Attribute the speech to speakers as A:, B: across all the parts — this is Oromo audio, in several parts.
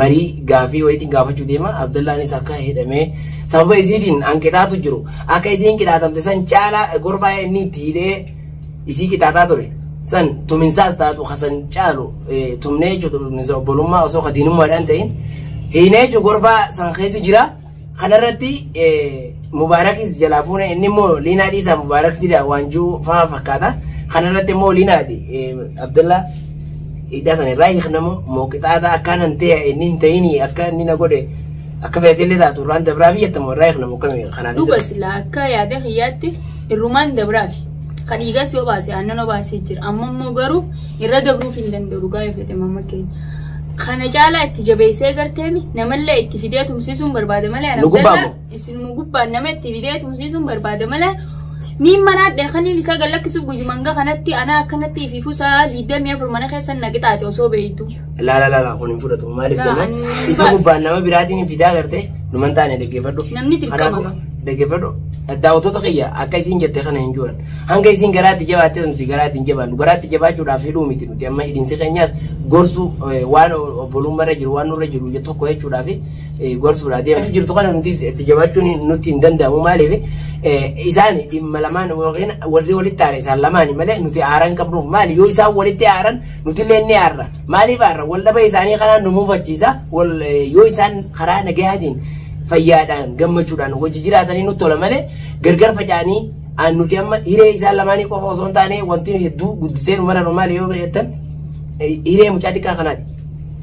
A: marii gaafii wayitiin gaafachuu deema Abdallaanis akka hidhamee sababa isiitiin hanqitaatu jiru akka isiin qixaatamte san caalaa gorfaa inni itti hidhee isii qixaataa ture san tuminsaas taatu kasan caalu tumnee jechuudha tuminsa obbolummaa osoo kadiinummaadhaan ta'in hiinee jechuudha gorfaa san keessa jira. Kanarratti Mubaarakis jalaa fuune inni immoo Liinaa dhiisaa Mubaarak fida waan jiru fa'aa fakkaata. Kanarratti immoo Liinaati Abdallaa hidhaa sana irraa hiiknamu moo qixaataa akkaan hin ta'e inni hin ta'ini akka inni na godhe akka feetillee taatu irraan dabraa fi jettamu irraa hiiknamu akkami kanaan Dhuga sila akka
B: yaada kiyyaatti irrumaan dabraafi. Kan dhiigas yoo baase aannan obaasee jira. Amma immoo garuu irra dabruuf hin danda'u dhugaa yoo fedhe mamma keenya. Kana caalaa itti jabeessee garteemi namallee itti fidee tumsiisuun barbaada malee Nu gubbaa Abdallaa moo? isinuma gubbaan nama itti fidee tumsiisuun barbaada malee miin manaa dheekaniin isaa gad lakkisuuf guyyuma hanga kanatti anaa akkanatti ifiifuu isaa diidamii afur mana keessa na qixaate osoo beektu. Laala laala kun hin
A: fudhatu maaliif Laa, jennaan ani hin isa baasu. gubbaan nama biraatiin hin fidaa gartee numan taane dhaggeeffadhu. Namni dirqama Kanaafuu,
B: qaba. Dhaggeeffadhu.
A: Daawwattoota kiyya akka isiin jette kana hin jiran. Hanga isiin garaatti jabaattee nuti garaatti hin jabaannu. Garaatti jabaachuudhaaf hidhuu miti nuti amma hidhiinsi keenyaas gorsuu waan obbolummarra jiru waan nurra jiru tokko jechuudhaaf gorsuudha. Deemtu jirtu kana nuti itti jabaachuun nutti hin danda'amu maaliif isaan dhimma lamaan yookiin warri walitti aare isaan lamaani malee nuti aaran qabnuuf maali yoo isaan walitti aaran nuti illee ni aarra maaliif aarra wal dhaba isaanii kanaan nu muufachiisa yoo isaan karaa nagayaatiin fayyaadhaan gammachuudhaan hojii jiraatanii nutti tola malee gargar faca'anii An nuti amma hiree isaan lamaanii qofa osoo hin taane wanti nu hedduu guddisee nu maranu maali yoo jettan eh, hiree mucaa xiqqaa kanaati.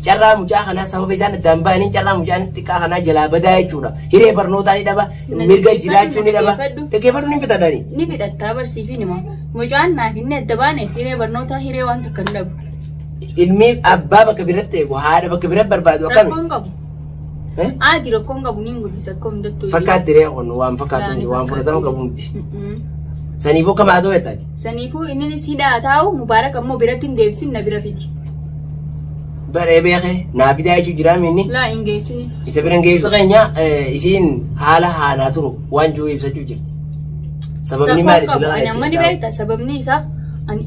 A: Carraa mucaa kanaa sababa isaan addaan ba'anii carraa mucaan xiqqaa kanaa jalaa badaa jechuudha. Hiree barnootaa ni dhaba, Nani mirga dhaggeeffadhu, jiraachuu ni dhaba. dhaggeeffadhu. Dhaggeeffadhu ni fixadani. ni fidhattaa barsiifi
B: nima mucaan naaf inni adda baane hiree barnootaa hiree waan takka hin dhabu
A: Ilmi abbaa bakka biratti eegu haadha bakka biratti barbaadu akkami? rakkoon qabu
B: Aadi rakkoon qabu ni mul'isa akka hundattuu. Fakkaatti ree kun waan
A: fakkaatu miti waan fudhatama qabu miti. Saniifuu akka maatoo jettaati. Saniifuu inni si
B: dhaa taa'u mubaarak ammoo biratti hin deebisin na bira fidi.
A: Baree beekee naa fidaa jechuun jiraa minni. Laa hin geessini.
B: Isa bira hin geessu keenya
A: isiin haala haanaa turu waan jiru ibsachuu jirti. Sababni maali itti lafa Nama ni beekta
B: sababni isaa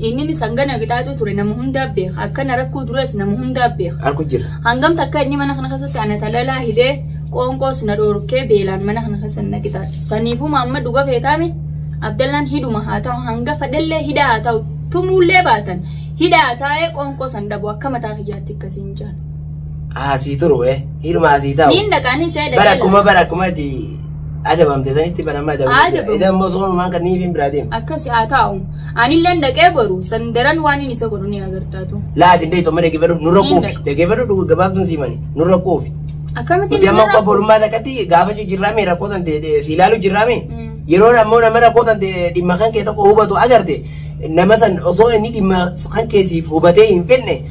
B: inni sangana qixaaxuu ture nama hundaa beeka akkana rakkoo duras nama hundaa beeka. Harku jira. Hangam
A: takka inni mana
B: kana keessatti ana talalaa hidhee qoonqoos na dhoorkee beelaan mana kana keessa na qixaaxe. Saniifuu maamma dhuga feetaame Abdallaan hidhuma haa ta'u hanga fedhellee hidhaa haa ta'u tumuullee baatan hidhaa haa taa'ee qoonqoo san dhabu akka mataa kiyyaatti akkasiin jaan. Asii
A: turu eh. Hidhuma asii ta'u. Niin dhaqaanii see Bara dhaqee
B: akkuma bara akkuma itti
A: adabamte sanitti bara amma Adabamte. adabamte. Idan immoo soonumaan kan niifiin biraa deema. akkasi haa taa'u.
B: Anilleen dhaqee boru san daran waan inni isa godhu ni agartaatu. Laa ati illee tomma dhaggeeffadhu
A: nurra Ni quufi. dhaqu. Dhaggeeffadhu dhugu gabaabtuun siimani nurra quufi. Akkamitti Nuti amma
B: akka borummaa takkatti
A: gaafachuu jirraame rakkoo tan ta'e si ilaaluu jirraame. Mm. Yeroo ammoo nama rakkoo tan ta'e dhimma kan kee tokko hubatu agarte nama san osoo inni dhimma kan kee siif hubatee hin fenne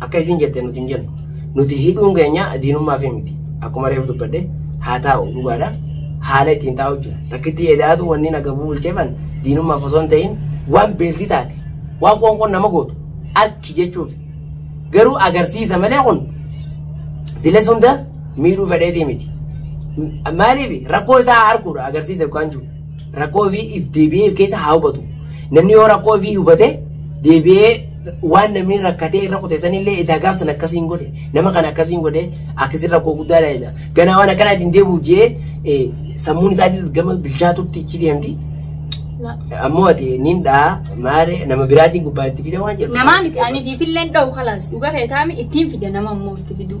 A: Akka isiin jette nuti hin jennu. Nuti hidhuun keenya diinummaa fi miti. Akkuma reefu dubbadhe haa taa'u dhugaadha. Haala ittiin taa'u jira. Takkittii edaatu wanni naga bulcheefan diinummaaf osoo hin ta'in waan beelti taate waan qoonqoon nama gootu akki jechuuf garuu agarsiisa malee kun diles hunda miidhuu fedheetii miti. Maaliif rakkoo isaa arguudha agarsiisa yookaan jiru. Rakkoo ofii if deebi'ee if keessa haa hubatu. Namni yoo rakkoo ofii hubate deebi'ee waan namni rakkatee irra kuteessan illee edaa gaafsan akkasiin godhe nama kana akkasiin godhe akkasiin rakkoo guddaa dha. Ganaa waan akkanaatiin deebi'u jee sammuun isaatis gama bilchaatutti ichi deemti. Ammoo ati niin dhaa maare nama biraatiin gubbaa itti fida waan jedhu. Namaa miti ani fiifilleen
B: dha'u kalaas dhugaa ta'e taa'ame ittiin fida nama immoo itti fiduu.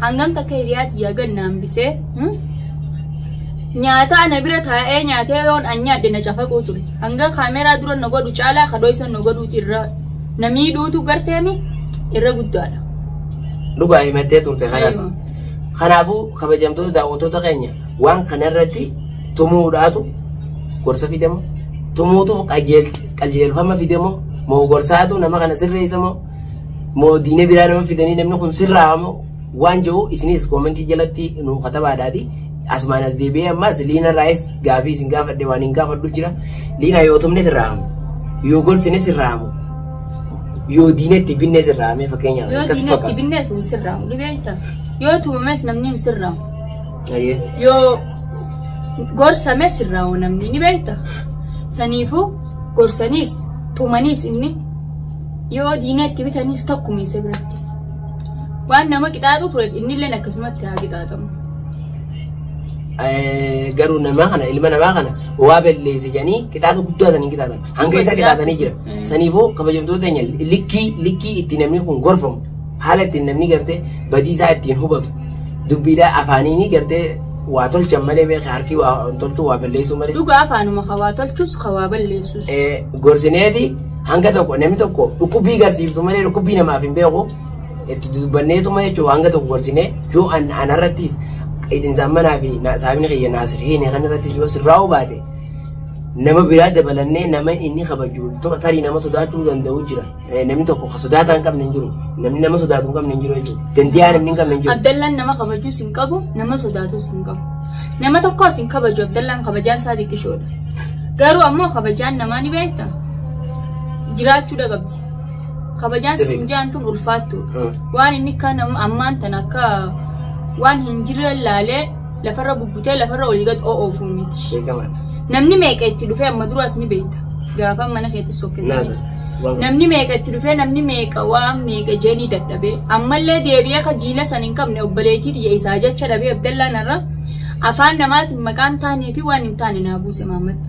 B: Hangam takka hiriyaa tiyyaa gad na hambisee. hmm? Nyaataa na bira taa'ee nyaatee yoon an nyaadhe na cafaquu ture. Hanga kaameraa dura na godhu caalaa ka dhoysan na godhuuti irra na miidhuutu garteemi irra guddaadha. Dhugaa
A: himattee turte kanas. Aywa. Kanaafuu kabajamtoota daawwattoota keenya waan kanarratti tumuudhaatu gorsa fidemo tumuutu qajeelfama fidemo moo gorsaatu nama kana sirreessamo moo diinee biraa nama fidanii namni kun sirraa moo waan jiru isinis koomentii jalatti nu katabaadhaati. Asumaan as deebi'ee ammas liina raayis gaafii isin gaafadhe waan hin gaafadhu jira. Liina yoo tumne sirraa hamu. Yoo gorsine sirraa hamu. Yoo diinetti binne sirraa hamee fakkeenyaaf. Yoo akkas diinatti fakkaata. binnees
B: hin sirraamu ni beekta. Yoo tumames namni hin sirraamu. Ayyee. Yoo gorsame sirraamu namni ni beekta. Saniifuu gorsaniis tumaniis inni Yoo diina itti bitanis tokkuma isa biratti. Waan nama qixaaxu ture innilleen akkasumatti haa qixaaxamu. Eh,
A: garuu namaa kana ilma namaa kana waa balleesse jedhanii qixaaxa guddaa sanii qixaatan hanga isa qixaatanii jira Mm. saniifuu kabajamtoota keenya likkii likkii itti namni kun gorfamu haala ittiin namni gartee badii isaa ittiin hubatu dubbiidhaa afaaniinii gartee waa tolchan malee beeka harki waa tolchuu waa balleessuu malee Dhugaa afaanuma hawaa
B: tolchus hawaa balleessus. eh, gorsineeti
A: Hanga tokko namni tokko dhukkubbii garsiiftu malee dhukkubbii namaaf hin beeku itti dubbanneetuma jechuun hanga tokko gorsinee yoo an anarrattis hidhinsaan manaa fi saamni kiyya naasireen kanarrattis yoo sirraa'uu baate nama biraa dabalannee nama inni kabaju tarii nama sodaachuu danda'u jira namni tokko ka sodaataa hin qabne hin jiru namni nama sodaatu hin qabne hin jiru jechuudha dandeeyaa namni hin qabne hin jiru. Abdallaan nama kabajuus
B: hin qabu nama sodaatuus hin qabu nama tokkos hin kabaju abdallaan kabajaan isaa xiqqishoodha garuu ammoo kabajaan namaa ni beekta. jiraachuu dhagabdi. Kabajaan Sirrii. siin jaan tun ulfaattu. Ah. Waan inni kan am- ammaan tan akka waan hin jirre laalee lafarra bubbutee lafarra olii gad oofu miti. Beekamaadha. Namni meeqa itti dhufee amma dura as ni beekta. Gaafa mana keetti Naana. sokkisaniis. Waan- Namni meeqa itti dhufee namni meeqa waan meeqa jeenii dadhabee ammallee deebi'ee akka jiila san hin qabne obboleettii tiyya isaa jecha dhabee abdallaan irra afaan namaatiin maqaan taanee fi waan hin taane naa buuse maammata.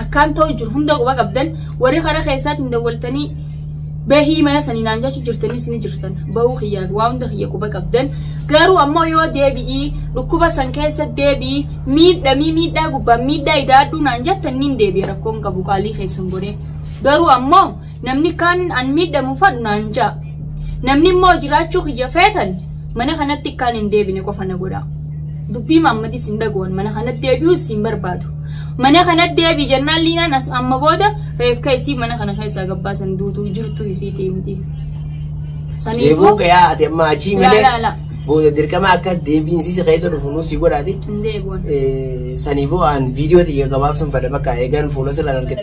B: Akkaan ta'u jiru hunda quba qabdan warri karaa keessaatiin dawwaltanii bahii mana sanii naan jechuu jirtanis ni jirtan bahuu kiyyaa waa hunda kiyya quba qabdan garuu ammoo yoo deebi'ii dhukkuba san keessa deebi'ii miidhamii miidhaa gubbaan miidhaa idaadhuu naan jettan niin deebi'a rakkoon qabu qaalii keessan godhee garuu ammoo Namni kaan an miidhamu fadhu naan ja'a. Namni immoo jiraachuu kiyya feetan mana kanatti akkaan hin deebine qofa na godha. Dubbii maammadis hin dhaga'an mana kanatti deebi'uus hin barbaadu. Mana kanatti deebi jennaan liinaan as amma booda reefka isii mana kana keessaa gabbaasan duutuu jirtu isii deemti. Deebi'uu
A: gayaa ati amma achii Laa, malee laa, laa. booda dirqama akka deebiin si keessa dhufu nuu si godhaati. Hin deebi'an. Saniifuu aan viidiyoo tiyya gabaabsuun fada bakka eegan fuula sirraan argite.